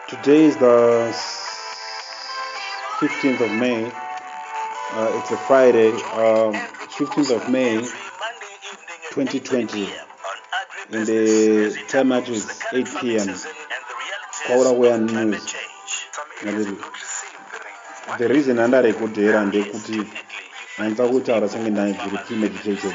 Today is the 15th of May. Uh, it's a Friday, um, 15th of May, 2020. In the time match is 8 p.m. Kaurakuya News. The reason andarekudhera ndekuti handisa kutaura senge ndaidziri premeditated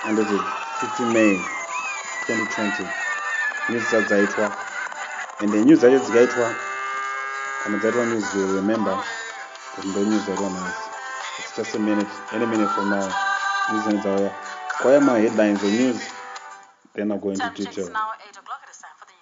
Handiti 15 May 2020 news dza dzaitwa and news dzacho dzikaitwa kana dzaitwa news you remember kuti ndo news dzaitwa nhasi it's just a minute any minute from now news dzine dzauya kwaya ma headlines the news then i'll go into detail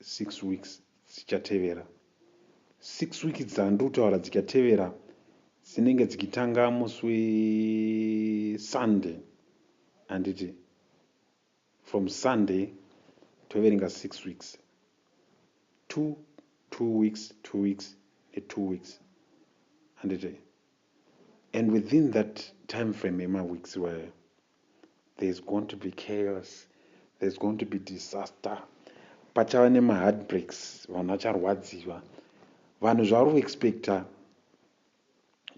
Six weeks dzichatevera. Six weeks dzandiri kutaura dzichatevera dzinenge dzichitanga musi wesunday handiti from sunday toverenga six weeks two two weeks two weeks netwo weeks handiti And within that time frame yema weeks iwayo there's going to be chaos, there's going to be disaster, pachava nema heartbreaks, vanhu vacharwadziwa, vanhu zvavari kuexpecta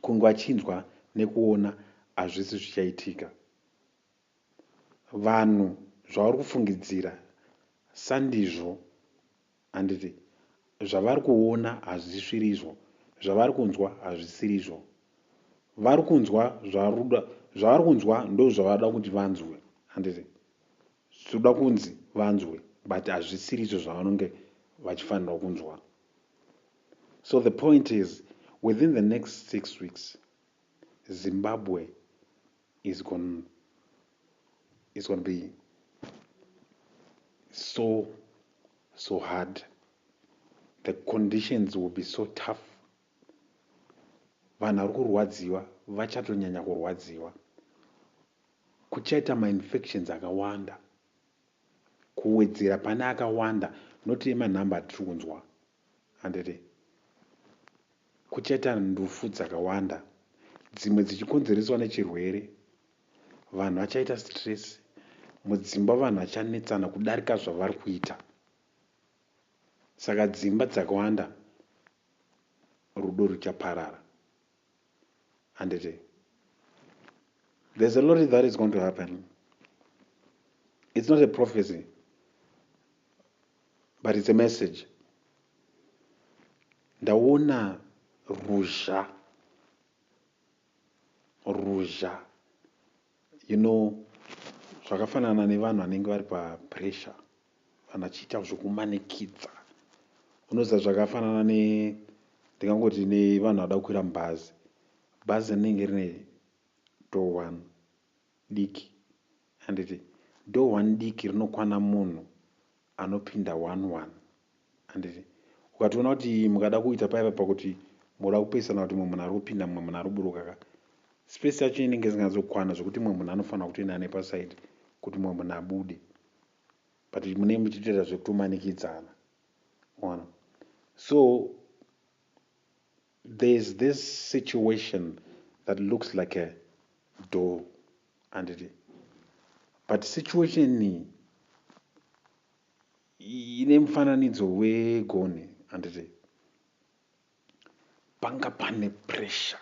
kunge vachinzwa nekuona hazvisi zvichaitika, vanhu zvavari kufungidzira sandizvo Handiti zvavari kuona hazvisirizvo, zvavari kunzwa hazvisirizvo. Vari kunzwa zvaruda, zvavari kunzwa ndozvavada kuti vanzwe. Handiti zvoda kunzi vanzwe but hazvisirizvo zvavanonge vachifanirwa kunzwa. So the point is within the next six weeks Zimbabwe is gon is gonna be so so hard the conditions will be so tough vanhu vari kurwadziwa vachatonyanya kurwadziwa kuchaita mainfections akawanda kuwedzera pane akawanda not emanhamba atiri kunzwa handiti? Kuchaita ndufu dzakawanda, dzimwe dzichikonzereswa nechirwere. Vanhu vachaita stress. Mudzimba vanhu vachanetsana kudarika zvavari kuita. Saka dzimba dzakawanda rudo ruchaparara. Handiti? There's a lot that is going to happen. It's not a prophecy. but it's a message ndaona ruzha ruzha you know zvakafanana nevanhu vanenge vari papressure vanhu vachiita zvekumanikidza unoziva zvakafanana ne ndingangoti nevanhu vada kukwira mubhazi bhazi rinenge rine door one diki handiti door one diki rinokwana munhu anopinda one one handiti ukatoona kuti mukada kuita paiva pakuti moda kupesana kuti mumwe munhu ari kupinda mumwe munhu ari kuburuka ka space yacho inenge isingazokwana zvekuti mumwe munhu anofanira kutoenda nepasaidi kuti mumwe munhu abude but munenge muchitoita zvekutomanikidzana ona so There's this situation that looks like a door handiti but situation iyi ine mufananidzo wegonhi handiti panga pane pressure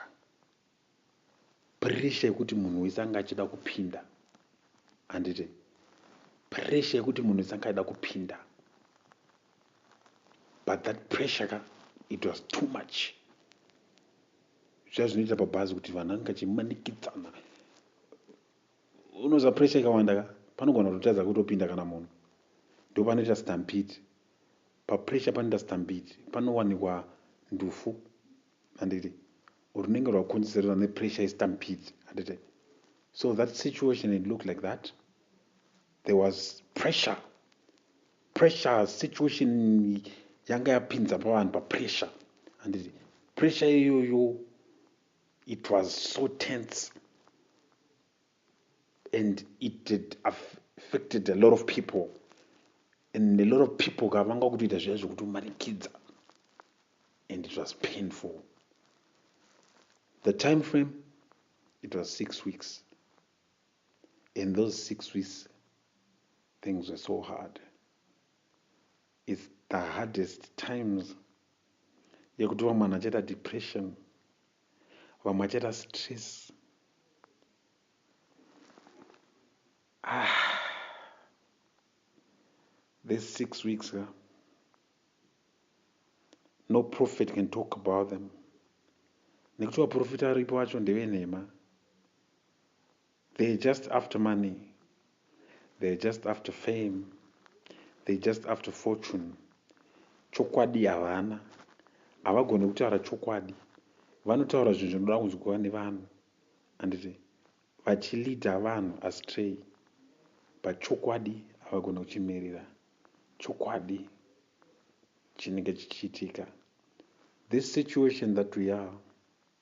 Pressure yekuti munhu wese anga achida kupinda handiti? Pressure yekuti munhu wese anga achida kupinda but that pressure ka it was too much zviya zvinoita pabhazi kuti vanhu anga achimanikidzana unoziva pressure ikawanda ka panogona kutotadza kutopinda kana munhu ndo panoita stampede papressure panoita stampede panowanikwa ndufu handiti runenge rwakonzerwa nepressure yestampede handiti so that situation it looked like that there was pressure pressure situation yanga yapinza pavanhu papressure handiti pressure iyoyo it was so tense and it had affected a lot of people and a lot of people ka vanga kutoita zviya zvekutomanikidza and it was painful the time frame it was six weeks in those six weeks things were so hard it's the hardest times yekuti vamwe vanhu achaita depression vamwe vachaita stress ah this six weeks ka no prophet can talk about them nekuti vaprofita aripo vacho ndevenhema They're just after money, they're just after fame, they're just after fortune. Chokwadi havana, havagone kutaura chokwadi. Vanotaura zvinhu zvinoda kunzwiwa nevanhu handiti vachilida vanhu astray but chokwadi havagone kuchimirira chokwadi chinenge chichiitika this situation that we are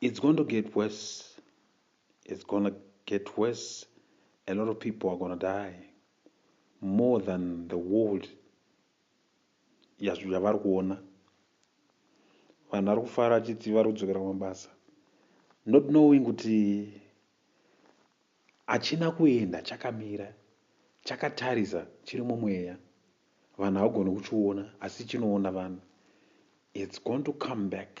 It's going to get worse. It's gonna get worse. A lot of people are gonna die more than the world yavari kuona. Vanhu vari kufara achiti vari kudzokera kumabasa not knowing kuti hachina kuenda chakamira chakatarisa chiri mumweya vanhu havagoni kuchiona asi chinoona vanhu it's going to come back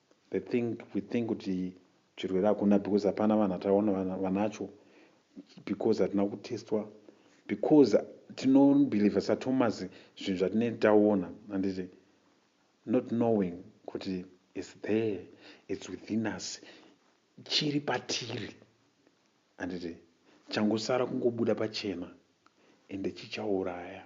They think we think kuti chirwere hakuna because hapana vanhu atakaona vanacho because hatina kutestwa because tinobelieve sathomas zvinhu zvatinei taona handiti not knowing kuti is there its within us chiri patiri handiti changosara kungobuda pachena ende chichauraya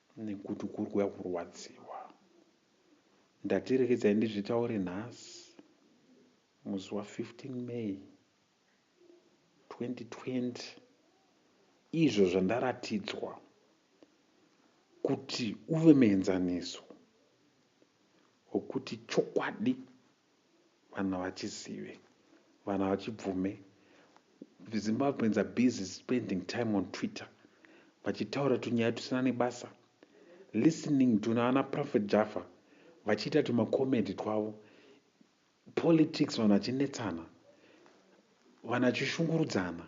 nekuti kuri kuya kurwadziwa ndati rekedzai ndizvitaure nhasi musi wa 15 may 2020 izvo zvandaratidzwa kuti uve muenzaniso wekuti chokwadi vanhu havachizive vanhu havachibvume zimbabweans are busy spending time on twitter vachitaura tunyaya tusina nebasa listening to naana prophet jaffa vachiita tumacomedy twavo politics vanhu vachinetsana vanhu vachishungurudzana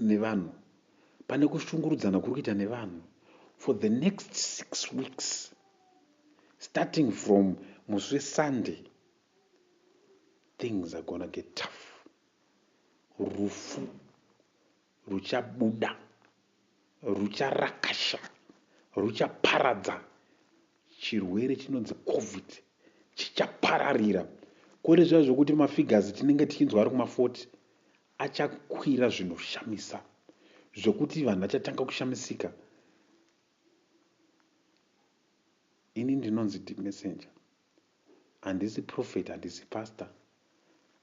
nevanhu pane kushungurudzana kuri kuita nevanhu for the next six weeks starting from musi wesunday things are gonna get tough rufu ruchabuda rucharakasha ruchaparadza chirwere chinonzi covid chichapararira kore zviya zvokuti mafigures tinenge tichinzwa ari kuma40 achakwira zvinoshamisa zvekuti vanhu vachatanga kushamisika ini ndinonzi ndimessenger handisi prophet handisi pastor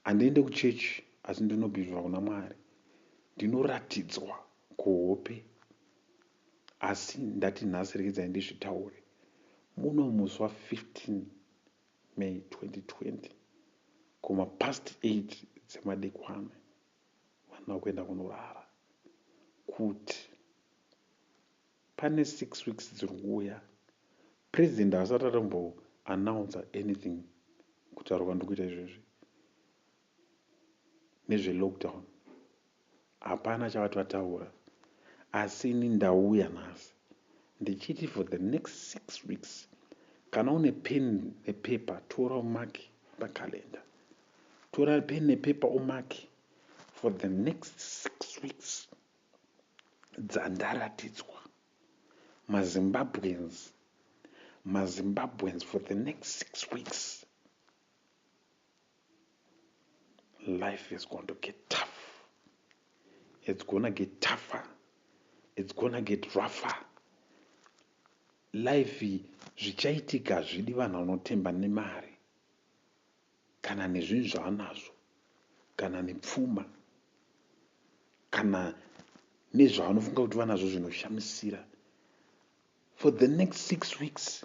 handiende kuchechi asi ndinobhivhira kuna mwari ndinoratidzwa kuhope asi ndati nhasi reedzai ndizvitaure muno musi wa 15 May 2020 kuma past 8 dzemadekwana vanhu vakuenda kunorara kuti pane 6 weeks dziri kuuya president haasati atombo announcer anything kutaura kwandikuita izvezvi nezvelockdown hapana chavati vataura asi ini ndauya nhasi ndichiti for the next six weeks kana une pen nepepa tora umaki pacalendar tora pen nepepa umaki for the next six weeks dzandaratidzwa mazimbabweans mazimbabweans for the next six weeks life is going to get tough it's gonna get tougher it's gonna get rougher life zvichaitika zvidi vanhu vanotemba nemari kana nezvinhu zvavanazvo kana nepfuma kana nezvavanofunga kuti vanazvo zvinoshamisira for the next six weeks